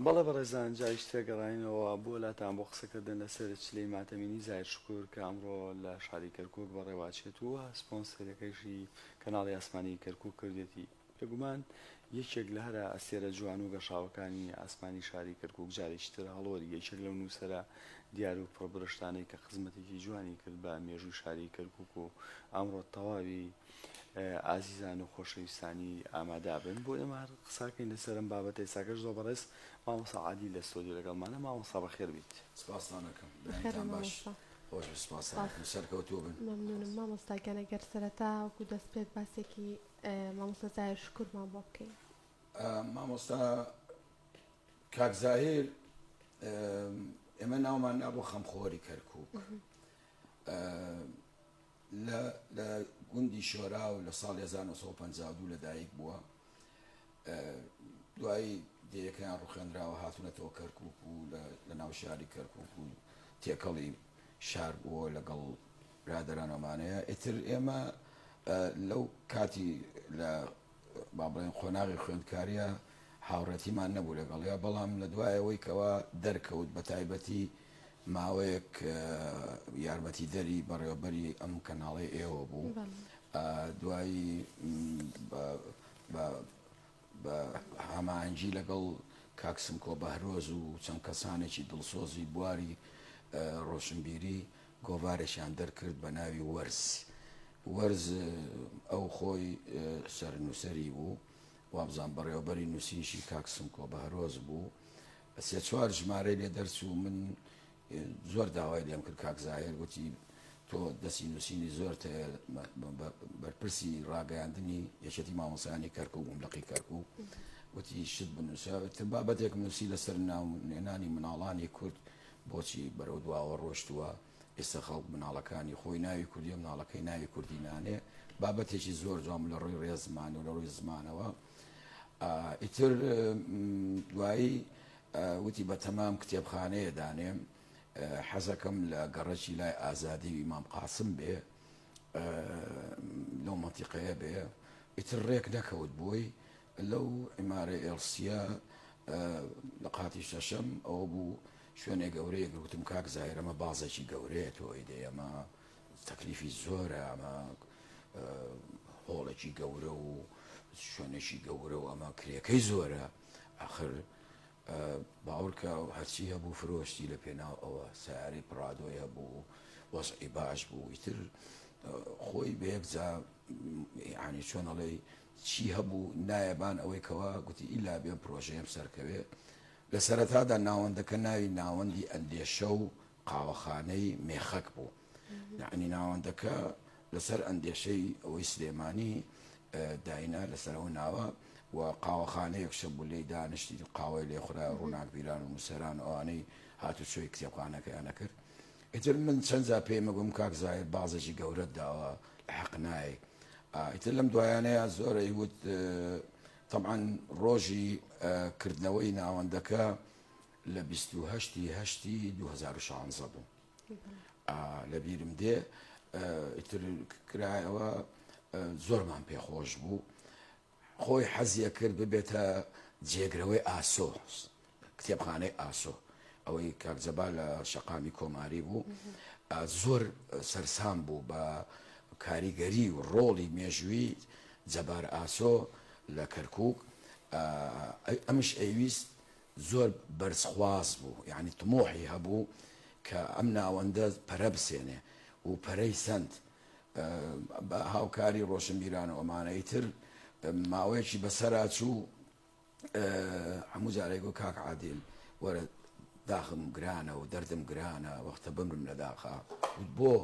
بەڵێ بەڕێزان جا ئیش تێگەڕاینەوە بۆ لاتان بۆ قسەکردن لەسەر چلەی ماتەمینی زاهیر شکور کە ئەمڕۆ لە شاری کەرکوک بەڕێواچێت و سپۆنسەرەکەیشی کەناڵی ئاسمانی کەرکوک کردوێتی بێگومان یەکێک لە هەرە ئەستێرە جوان و گەشاوەکانی ئاسمانی شاری کەرکوک جارێکی تر هەڵۆری یەکێک لەو نووسەرە دیار و پڕبرشتانەی کە خزمەتێکی جوانی کرد بە مێژووی شاری کەرکوک و ئەمڕۆ تەواوی ئازیزان و خۆشەویستانی ئامادا بن بۆ ئێمە هەر قساکەین لەسەر ئەم بابەتە ئێستاکەش زۆر بەڕێز مامۆسا عادی لە سۆدیو لەگەڵمانە مامۆسا بەخێر بیت سپاسانەکەم دایتان باش خۆش سپاسانەکەم سەرکەوتوو بن مەمنونم مامۆستاگیان ئەگەر سەرەتا وەکو دەست پێت باسێکی مامۆستا زاهر شکرمان بۆ بکەین مامۆستا کاک زاهر ئێمە ناومان نابوو خەمخۆری کەرکک لە لە گوندی شۆراو لە ساڵی هەزار و نۆ سەد و پەنجا و دوو لەدایک بووە. دوایی دەیەکەیان ڕوخێنراوە هاتوونەتەوە کەرکوک و لە ناو شاری کەرکوک و تێکەڵی شار بووە لەگەڵ برادەرانەوەمانەیە ئیتر ئێمە لەو کاتی لە با بڵێین قۆناغی خوێندکارییە هاوڕێتیمان نەبوو لەگەڵیا بەڵام لە دوایەوەی کەوا دەرکەوت بە تایبەتی ماوەیەک یارمەتی دەری بەڕێوەبەری ئەم کەناڵی ئێوە بوو دوایی بە هەمانجی لەگەڵ کاکسم کۆ بەهرۆز و چەند کەسانێکی دڵسۆزی بواری ڕۆشنبیری گۆڤارێکیان دەرکرد بە ناوی وەرز. وەرز ئەو خۆی سەرنووسەری بوو، وابزانم بەڕێوەبەری نووسینیشی کاک سمکۆ بەهرۆز بوو. سێ چوار ژمارەی لێ دەرچوو، من زۆر داوای لێم کرد کاک زاهیر گوتی تۆ دەستی نووسینی زۆرت هەیە، بەرپرسی ڕاگەیاندنی یەکێتی مامۆستایانی کەرکووک بووم، لقی کەرکووک گوتی شت بنووسە، وتم بابەتێکم نووسی لەسەر ناونێنانی مناڵانی کورد، بۆچی بەرەو دواوە ڕۆشتووە، ئێستا خەڵک مناڵەکانی خۆی ناوی کوردیە مناڵەکەی ناوی کوردی نانێ بابەتێکی زۆر جوان بوو لە ڕووی ڕێزمان و لە ڕووی زمانەوە ئیتر دوایی وتی بە تەمام کتێبخانەیە دانێ حەزەکەم لە گەڕەکی لای ئازادی و ئیمام قاسم بێ لەو منتیقەیە بێ ئیتر ڕێک نەکەوت بۆی لەو عیمارەی ئێڵسییە لە قاتی شەشەم ئەوە بوو شوێنێ گەورەیە گوتم کاک زاهر ئەمە بازێکی گەورەیە تۆ ئەیدەی ئەمە تەکلیفی زۆرە ئەمە هۆڵێکی گەورە و شوێنێکی گەورە و ئەمە کرێکەی زۆرە ئاخر باوەڕکە و هەرچی هەبوو فرۆشتی لە پێناو ئەوە سیارەی پڕادۆی هەبوو وەزعی باش بوو ئیتر خۆی بە یەکجا یەعنی چۆن ئەڵێی چی هەبوو نایەبان ئەوەی کەوا گوتی ئیلا بێم پرۆژەیەم سەرکەوێ. لە سەرەتادا ناوەندەکە ناوی ناوەندی ئەندێشە و قاوەخانەی مێخەک بوو. یەعنی ناوەندەکە لەسەر ئەندێشەی ئەوەی سلێمانی داینا لەسەر ئەو ناوە و قاوەخانەیەکشە بوو لێی دانیشتی قاوەی لێ خورا ڕووناکبیران و نووسەران ئەوانەی هاتوچۆی کتێبخانەکەیان ئەکرد. ئیتر من چەند جار پێی مەگوم کاک زاهیر بازێکی گەورەت داوە لە حەق نایە ئیتر لەم دوایانەیە زۆرە یوت طبعا ڕۆژی کردنەوەی ناوەندەکە لە 28 هەشتی 2016 بوو لە بیرم دێ ئیتر کرایەوە زۆرمان پێخۆش بوو خۆی حەزیەکرد ببێتە جێگرەوەی ئاسۆ کتێبخانەی ئاسۆ ئەوەی کاک جەبار لە شەقامی کۆماری بوو زۆر سەرسام بوو بە کاریگەری و ڕۆڵی مێژووی جەبار ئاسۆ لە کەرکک ئەمش ئەویست زۆر بەرزخواز بوو یعنی تمۆحی هەبوو کە ئەم ناوەندە پەرە بسێنێ و پەرەی سند بە هاوکاری ڕۆشنبیران و ئەمانەی تر ماوەیەکی بەسەرا چوو هەموو جارێک گو کاک عادل وەرە داخم گرانە و دەردم گرانە وەختە بمرم لە داخا بۆ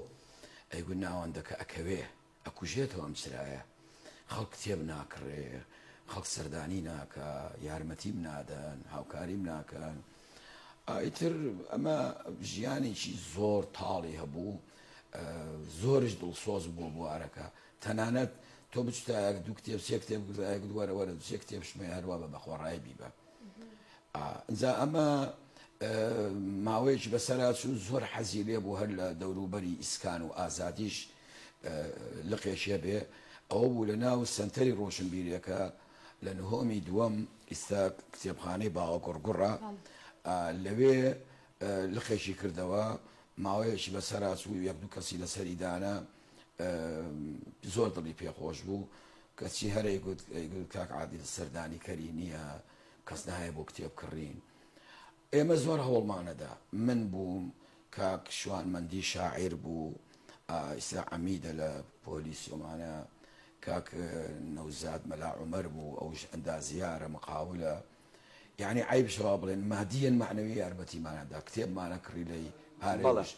ئەیگو ناوەندەکە ئەکەوێ ئەکوژێتەوە ئەم چرایە خەڵک کتێب ناکڕێ، خەڵک سەردانی ناکا، یارمەتیم نادەن، هاوکاریم ناکەن. ئیتر ئەمە ژیانێکی زۆر تاڵی هەبوو، زۆرش دڵسۆز بوو بوارەکە. تەنانەت تۆ بچتایەک دوو کتێب سێ کتێب گوزایەکت وەرە وەرە دوو سێ کتێب شمەی هەروا بە بەخۆڕای بیبە. ئینجا ئەمە ماوەیەکی بەسەرا چوو زۆر حەزی لێ بوو هەر لە دەوروبەری ئیسکان و ئازادیش لقێکی هەبێ ئەوە بوو لە ناو سەنتەری ڕۆشنبیریەکە لە نهۆمی دووەم ئیستا کتێبخانەی باوە گوڕگوڕە لەوێ لقێکی کردەوە ماوەیەکی بەسەرا چوو یەک دوو کەسی لەسەری دانا زۆر دڵی پێ خۆش بوو کەچی هەر ئەیگوت ئەیگوت کاک عادل سەردانی کەری نییە کەس نایە بۆ کتێب کڕین ئێمە زۆر هەوڵمانەدا من بووم کاک شوانمەندی شاعیر بوو ئیسا عەمیدە لە پۆلی سۆمانە کاک نەوزاد مەلا عومەر بوو ئەوش ئەندازیارە مقاولە یانی عەیبش وا بڵێن مادیەن مەعنەوی یارمەتیمانە دا کتێبمانە کڕی لەی پارەیش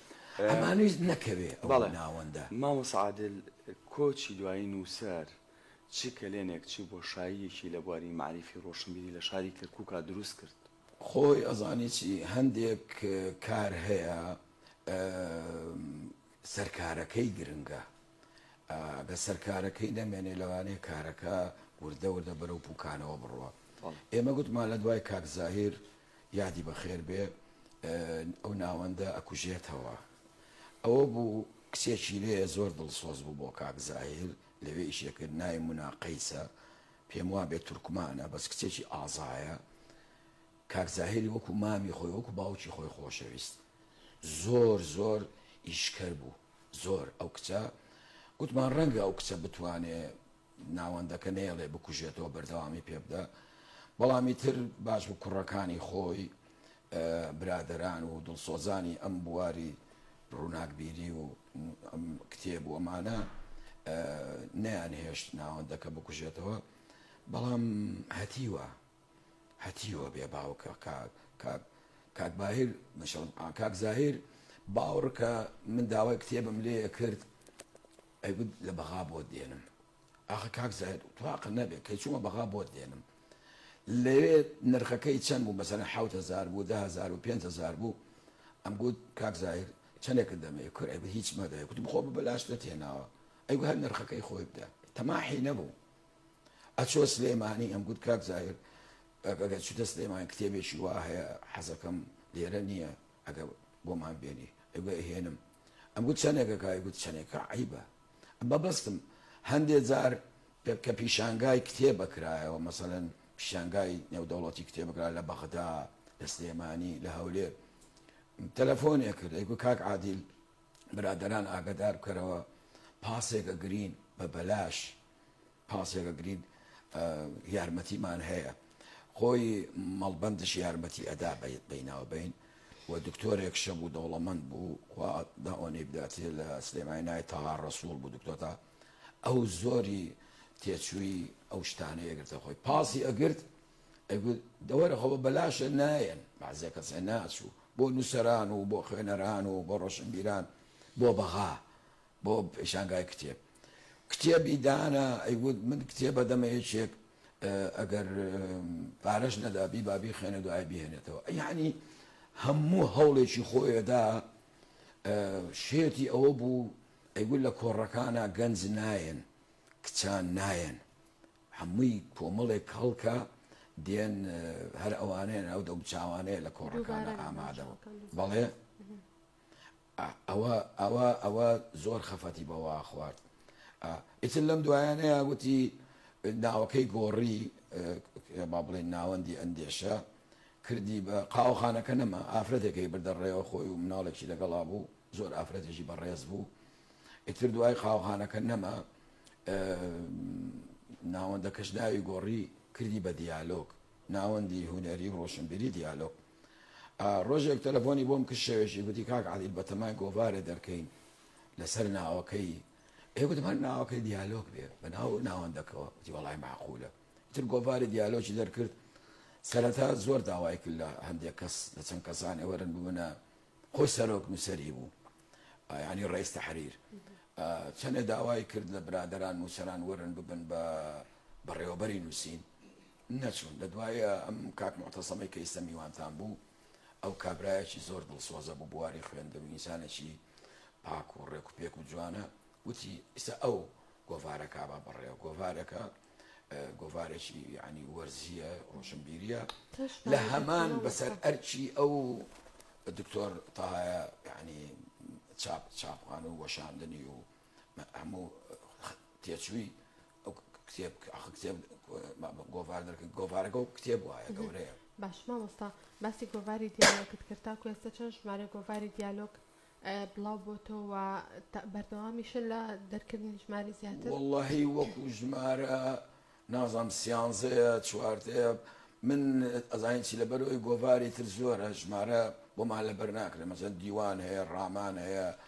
ئەمانویست نەکەوێ ئەو ناوەندە. مامۆسا عادل کۆچی دوایی نووسەر چ کەلێنێک چ بۆشاییەکی لە بواری مەعریفی ڕۆشنبیری لە شاری کەرکووکا دروست کرد؟ خۆی ئەزانی چی هەندێک کار هەیە سەرکارەکەی گرنگە لەسەر کارەکەی نەمێنێ لەوانەیە کارەکە وردە وردە بەرەو پوکانەوە بڕوا ئێمە گوتمان لە دوای کاک زاهیر یادی بەخێر بێ ئەو ناوەندە ئەکوژێتەوە ئەوە بوو کچێکی لێ زۆر دڵسۆز بوو بۆ کاک زاهیر لەوێ ئیشێکرد نای مناقەیسە پێم وا بێت تورکمانە بەس کچێکی ئازایە کاک زاهری وەکو مامی خۆی وەکو باوکی خۆی خۆشەویست زۆر زۆر ئیشکەر بوو زۆر ئەو کچە. گوتمان ڕەنگە ئەو کچە بتوانێ ناوەندەکە نەیەڵێ بکوژێتەوە بەردەوامی پێ بدە. بەڵام ئیتر باش بوو کوڕەکانی خۆی برادەران و دڵسۆزانی ئەم بواری ڕووناکبیری و ئەم کتێب و ئەمانە نەیانهێشت ناوەندەکە بکوژێتەوە. بەڵام هەتیوە هەتیوە بێ باوکە کاک کاک کاک باهیر مەشەڵ ئا کاک زاهیر باوڕکە من داوای کتێبم لێیە کرد ئەیگوت لە بەغا بۆت دێنم ئاخە کاک زاهیر تواقە نەبێت کەی چوومە بەغا بۆت دێنم لەوێ نرخەکەی چەند بوو مەسەن حوت هزار بوو ده هزار و پێ هزار بوو ئەم گوت کاک زاهیر چەندێکت دەمێ کور ئەیگوت هیچ مەدە کوتم خۆ بە بەلاش دەتێناوە ئەیگو هەر نرخەکەی خۆی بدە تەماحی نەبوو ئەچۆ سلێمانی ئەم گوت کاک زاهیر ئەگەر چوتە سلێمانی کتێبێکی وا هەیە حەزەکەم لێرە نییە ئەگەر بۆمان بێنی ئەگوێ ئەهێنم ئەم گوت چەندێکە کای گوت چەندێکە عیبە ئەم بەبستم هەندێ جار کە پیشانگای کتێبە کرایەوە مەسەلەن پیشانگای نێودەوڵەتی کتێبەکرا لە بەغدا لە سلێمانی لە هەولێر تەلەفۆنێ کرد ئەیگو کاک عادیل برادران ئاگدار بکەرەوە پاسێکە گرین بە بەلاش پاسێکە گرینگ یارمەتیمان هەیە خۆی مەڵبەندش یارمەتی ئەدا بەیت بیناو بین و دکتۆرێک شە بوو دەوڵەمەند بوو داۆنی بداتێ لە سلێمای نای تاها ڕسوول بوو دکتۆتا ئەو زۆری تێچووی ئەو شتانە یەگرتە خۆی پاسی ئەگرت دەوەرە خۆ بەلاشە نایەن بازێ کەسێ ناچوو بۆ نووسران و بۆ خوێنەران و بۆ ڕۆشنبیران بۆ بەغا بۆ پێشانگای کتێب کتێبی دانا ئەیوت من کتێب ئەدەمە یەکێک ئەگەر پارەش نەدا بیبا بیخوێنێ دوای بهێنێتەوە یعنی هەموو هەوڵێکی خۆی ئەدا شێتی ئەوە بوو ئەیگول لە کۆڕەکانە گەنج نایەن کچان نایەن هەمووی کۆمەڵێک هەڵکە دێن هەر ئەوانەیە ئەو دەم چاوانەیە لە کۆڕەکانە ئامادەوە بەڵێ ئا ئەوە ئەوە ئەوە زۆر خەفەتی بەوە خوارد ئا ئیتر لەم دوایانەیا گوتی ناوەکەی گۆڕی ک با بڵێین ناوەندی ئەندێشە کردی بە قاوەخانەکە نەما ئافرەتێکەی بردە ڕێوە خۆی و مناڵێکی لەگەڵا بوو زۆر ئافرەتێکی بەڕێز بوو ئیتر دوای قاوەخانەکە نەما ئا ناوەندەکەش ناوی گۆڕی کردی بە دیالۆگ ناوەندی هونەری و ڕۆشنبیری دیالۆگ ڕۆژێک تەلەفۆنی بۆم کرد شەوێکی گوتی کاک عادیل بەتەمای گۆڤارێ دەرکەین لەسەر ناوەکەی ئێ گوتم هەر ناوەکەی دیالۆک بێ بە ناو ناوەندەکەوە گوتی وەڵای معقولە تر گۆڤاری دیالۆکی دەرکرد سەرەتا زۆر داوای کرد لە هەندێک کەس لە چەند کەسانێ وەرن ببنە خۆی سەرۆک نووسەری بوو ینی ڕێز تحریر چەندێ داوای کرد لە برادران نووسەران وەرن ببن بە بەڕێوەبەری نووسین نەچوون لە دوای ئەم کاک موعتەسەمەی کە ئیستە میوانتان بوو ئەو کابرایەکی زۆر دڵسۆزە بوو بواری خوێندن و ئینسانێکی پاک و ڕێک و پێک و جوانە وتی ئیستا ئەو گۆڤارە کابا بەڕێ گۆڤارەکە گۆڤارێکی ینی وەرزیە ڕۆشنبیریە لە هەمان بەسەر ئەرچی ئەو دکتۆر تاهایە ینی چاپ چاپخان و وەشاندنی و هەموو تێچووی ئەو کتێب کە ئەخ کتێب گۆڤاردەر کە گۆڤارەکە و کتێب وایە گەورەیە باش مامۆستا باسی گۆڤاری دیالۆکت کرد تاکو ئێستا چەند ژمارە گۆڤاری دیالۆک بڵاو بۆتەوە بەردەوامیشە لە دەرکردنی ژماری زیاتر واللهی وەکو ژمارە نازانم سیانزەیە چواردەیە من ئەزانین چی لەبەرەوەی گۆڤاری تر زۆرە ژمارە بۆمان لەبەر ناکرێت مەسەن دیوان هەیە ڕامان هەیە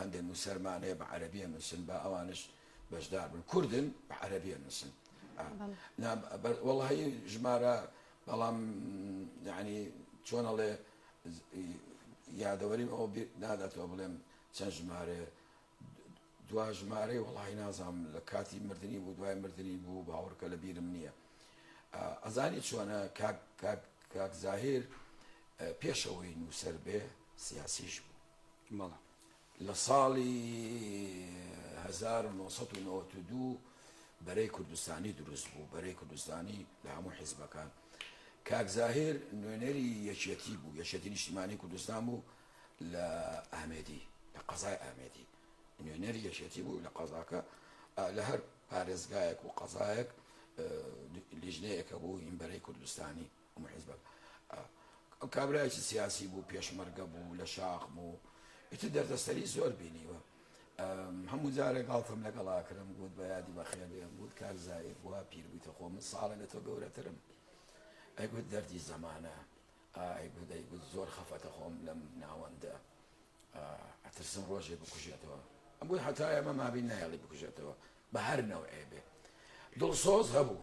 هەندێک نووسەرمان هەیە بە عەرەبی ئەنووسن با ئەوانش بەشدار بن کوردن بە عەرەبی ئەنووسن وەڵی ژمارە بەڵام یعنی چۆنەڵێ یادەوەریم ئەو ناداتەوە بڵێم چەند ژمارە دوا ژمارەی وڵی نازام لە کاتی مردنی بوو دوای مردنی بوو باوەڕکە لە بیرم نییە ئەزانی چۆنە کاک زاهیر پێشەوەی نووسەر بێ سیاسیش بوو لە ساڵی هەزار و نۆ سەد و نەوەد و دوو بەرەی کوردستانی دروست بوو، بەرەی کوردستانی لە هەموو حیزبەکان. کاک زاهیر نوێنەری یەکێتی بوو، یەکێتی نیشتیمانی کوردستان بوو لە ئامێدی، لە قەزای ئامێدی. نوێنەری یەکێتی بوو لە قەزاکە، لە هەر پارێزگایەک و قەزایەک لیژنەیەک هەبوو، هیم بەرەی کوردستانی. ئەم حیزبە ئەو کابرایەکی سیاسی بوو پێشمەرگە بوو لە شاخ بوو ئیتر دەردەسەری زۆر بینیوە هەموو جارە گاڵتەم لەگەڵا کرم گوت بە یادی بەخێبێن گوت کار زایر بووە پیربوویتە خۆ من ساڵە لە تۆ گەورەترم ئەگوت دەردی زەمانە ئایگوت ئەیگوت زۆر خەفەتە خۆم لەم ناوەندە ئەترسم ڕۆژێ بکوژێتەوە ئەم بووی حتا ئێمە مابین نایڵی بکوژێتەوە بە هەر نەوعێ بێ دڵسۆز هەبوو.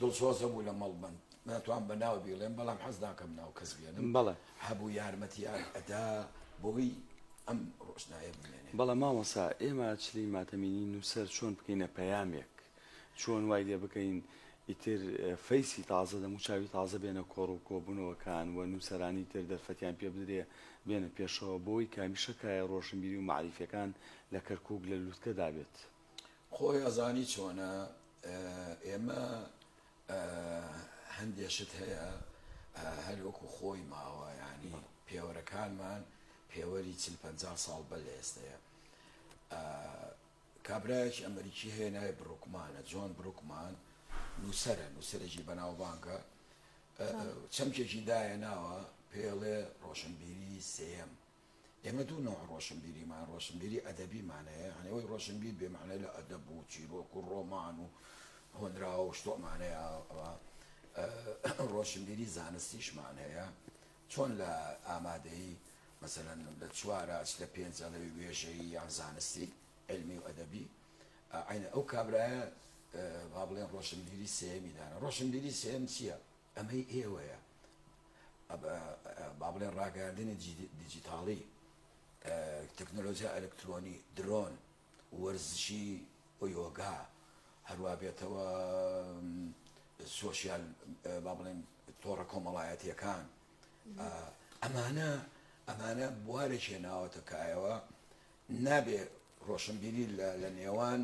دڵسۆز هەبوو لە مەڵبەند، ناتوانم بە ناو بیڵێم، بەڵام حەز ناکەم ناو کەس بێنم. بەڵێ. هەبوو یارمەتیان ئەدا بۆی ئەم ڕۆشنایە بمێنێ. بەڵێ مامۆستا، ئێمە چلەی ماتەمینی نووسەر چۆن بکەینە پەیامێک؟ چۆن وای لێ بکەین ئیتر فەیسی تازە، دەموچاوی تازە بێنە کۆڕ و کۆبوونەوەکان و نووسەرانی تر دەرفەتیان پێ بدرێ بێنە پێشەوە بۆی کە میشەکایە ڕۆشنبیری و مەعریفیەکان لە کەرکووک لە لووتکەدا بێت؟ خۆی ئەزانی چۆنە ئێمە هەندێ شت هەیە هەر وەکو خۆی ماوە یعنی پێوەرەکانمان پێوەری چل پەنجا ساڵ بە لە ئێستەیە کابراایکی ئەمریکی هەیە ناوی بڕوکمانە جۆن بروکمان نووسرە نووسەرێکی بەناوبانگە چەمکێکی دایە ناوە پێڵێ ڕۆشنبیری سێم ئێمە دوو نەوع ڕۆشنبیریمان، ڕۆشنبیری ئەدەبیمان هەیە، یانی ئەوەی ڕۆشنبیر بێ مەعنای لە ئەدەب و چیرۆک و ڕۆمان و هۆنراوە و شتۆمان هەیە، ئەوا ڕۆشنبیری زانستیشمان هەیە، چۆن لە ئامادەیی مەسەلەن لە چوار ئاست لە پێنج ئەڵێی وێژەیی یان زانستی عیلمی و ئەدەبی، ئەی ئەو کابرایە با بڵێن ڕۆشنبیری سێیەمی داناوە. ڕۆشنبیری سێیەم چییە؟ ئەمەی ئێوەیە با بڵێن ڕاگەیاندنی دیجیتاڵی، تەکنۆلۆجیا ئەلکترۆنی، درۆن، وەرزشی و یۆگا، هەروا بێتەوە سۆشیال با بڵێن تۆڕە کۆمەڵایەتییەکان، ئەمانە ئەمانە بوارێکێ ناوەتە کایەوە نابێ ڕۆشنبیری لە نێوان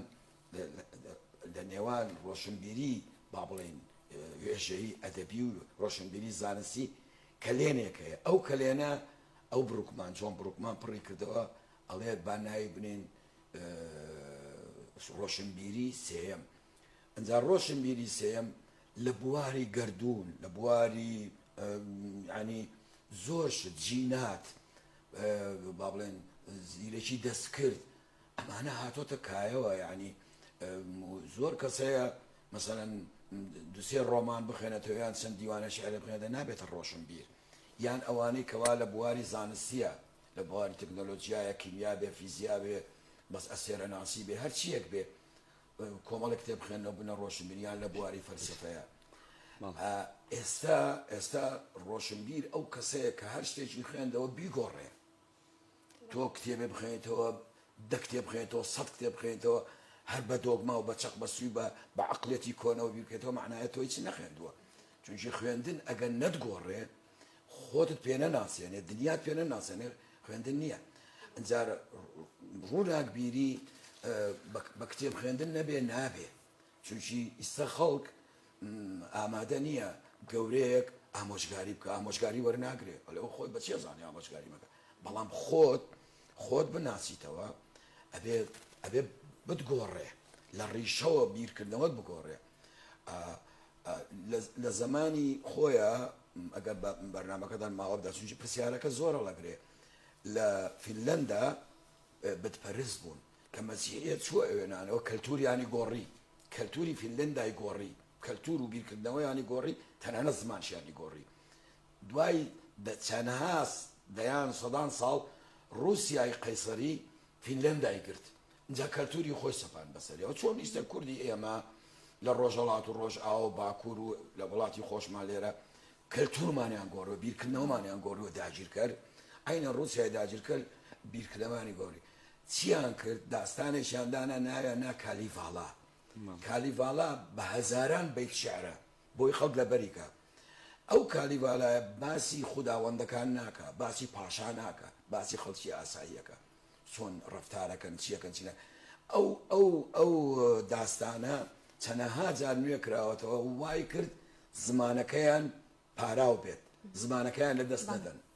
لە نێوان ڕۆشنبیری با بڵێین وێژەیی ئەدەبی و ڕۆشنبیری زانستی کەلێنێک هەیە ئەو کەلێنە ئەو بڕوکمان جۆن بڕوکمان پڕی کردەوە ئەڵێت با ناوی بنین ڕۆشنبیری سێم ئەجا ڕۆشنبیری سێم لە بواری گردردون لە بواری ینی زۆر جینات با بڵێن زیرەکی دەستکرد ئەمانە هاتۆتە کایەوە یانی زۆر کەس هەیە مەسەلەن دوسێ ڕۆمان بخێنێتەوە یان چەند دیوانە شعر بخێنێتە نابێتە ڕۆشن بیر یان ئەوانەی کەوا لە بواری زانستیە لە بواری تەکنۆلۆژیایە کیمیا بێ فیزیا بێ بەس ئەسێرە ناسی بێ هەرچیەک بێ کۆمەڵە کتێب بخێنەوە بنە ڕۆشنبیریان لە بواری فەرسفەیە ئێستا ئێستا ڕۆشنبیر ئەو کەسەیە کە هەر شتێکی خوێندەوە بیگۆڕێ تۆ کتێبێ بخوێنیتەوە، دە کتێب بخوێنیتەوە، سەد کتێب بخوێنیتەوە، هەر بە دۆگما و بە چەق بەستووی و بە بە عەقڵیەتی کۆنەوە بیر بکەیتەوە مەعنایە تۆ هیچت نەخوێندووە. چونکی خوێندن ئەگەر نەتگۆڕێ خۆتت پێ نەناسێنێ، دنیات پێ نەناسێنێ خوێندن نییە. ئینجا ڕووناکبیری بە کتێب خوێندن نەبێ نابێ. چونکی ئیستا خەڵک ئامادە نیە گەورەیەک ئامۆژگاری بکا ئامۆژگاری وەرناگرێ ئەلێ خۆت بەچی ئەزانی ئامۆژگاری مەکە بەڵام خۆت خۆت بناسیتەوە ئەبێ ئەبێ بتگۆڕێ لە ڕیشەوە بیرکردنەوەت بگۆڕێ لە زمانی خۆیە ئەگەر بەرنمەکەدان ماوەدا چونکی پرسیارەکە زۆرە لەگرێ لە فیلەندا بتپەرست بوون کە مەسیحیەت چووە ئەوێنانەوە کەلتوریانی گۆڕی، کەلتوری فینلەندای گۆڕی، کەلتور و بیرکردنەوەیانی گۆڕی، تەنانەت زمانشیانی گۆڕی. دوای چەندها دەیان، سەدان ساڵ ڕوسیای قەیسەری فینلەندای گرت، ئینجا کەلتوری خۆی سەپاند بەسەریەوە. چۆن ئیستە کوردی ئێمە لە ڕۆژهەڵات و ڕۆژئاوا و باکور و لە وڵاتی خۆشمان لێرە کەلتورمانیان گۆڕیوە، بیرکردنەوەمانیان گۆڕیوە داگیرکەر عەینەن ڕوسیای داگیرکەر بیرکردنەوەیانی گۆڕی. چیان کرد داستانێکیان دانا ناویان نا کالیڤالا کالیڤالا بە هەزاران بەیت شعرە بۆی خەڵک لەبەری کا ئەو کالیڤالایە باسی خوداوەندەکان ناکا باسی پاشا ناکا باسی خەڵکی ئاساییەکە چۆن ڕفتارەکەن چیەکەن چینە ئەو ئەو ئەو داستانە چەنەها جار نوێ کراوەتەوە وای کرد زمانەکەیان پاراو بێت زمانەکەیان لە دەست نەدەن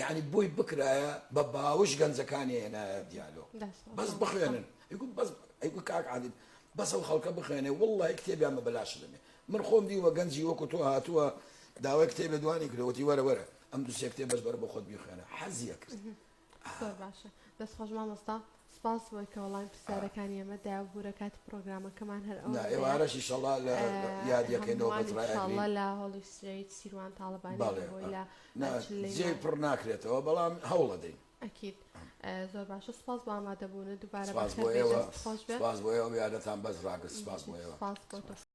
یانی بۆی بکرایە بە باوش گەنجەکانی هێنایە دیالۆ بەس بخوێنن ئیگوت بەس ئەیگوت کاک عادل بەس ئەو خەڵکە بخوێنێ واللە کتێبیان بە بەلاش دەمێ من خۆم دیوە گەنجی وەکو تۆ هاتووە داوای کتێبێ دوانی کرەوەتی وەرە وەرە ئەم دوسێ کتێ بەش بەرە بە خۆت بیخوێنە حەزیە کرد باشە دەست خۆش مامۆستا سپاس بۆی کە وەڵامی پرسیارەکانی ئێمە دایە و بوورە کاتی پڕۆگرامەکەمان هەر ئەوەندەیە. نا ئێوارەش ئیشەڵا لە یادی یەکەی نۆبەت ڕای ئەگرین. هەمووان ئیشەڵا لە هۆڵی سترەیت سیروان تاڵەبانی بەڵێ بۆی لە نا جێی پڕ ناکرێتەوە بەڵام هەوڵ ئەدەین. ئەکید زۆر باشە سپاس بۆ ئامادەبوونت دووبارە بەخێربێی دەستت خۆش بێت. سپاس بۆ ئێوە سپاس بۆ ئێوە یارەتان بەس ڕاگرت سپاس بۆ ئێوە. سپاس بۆ تۆش.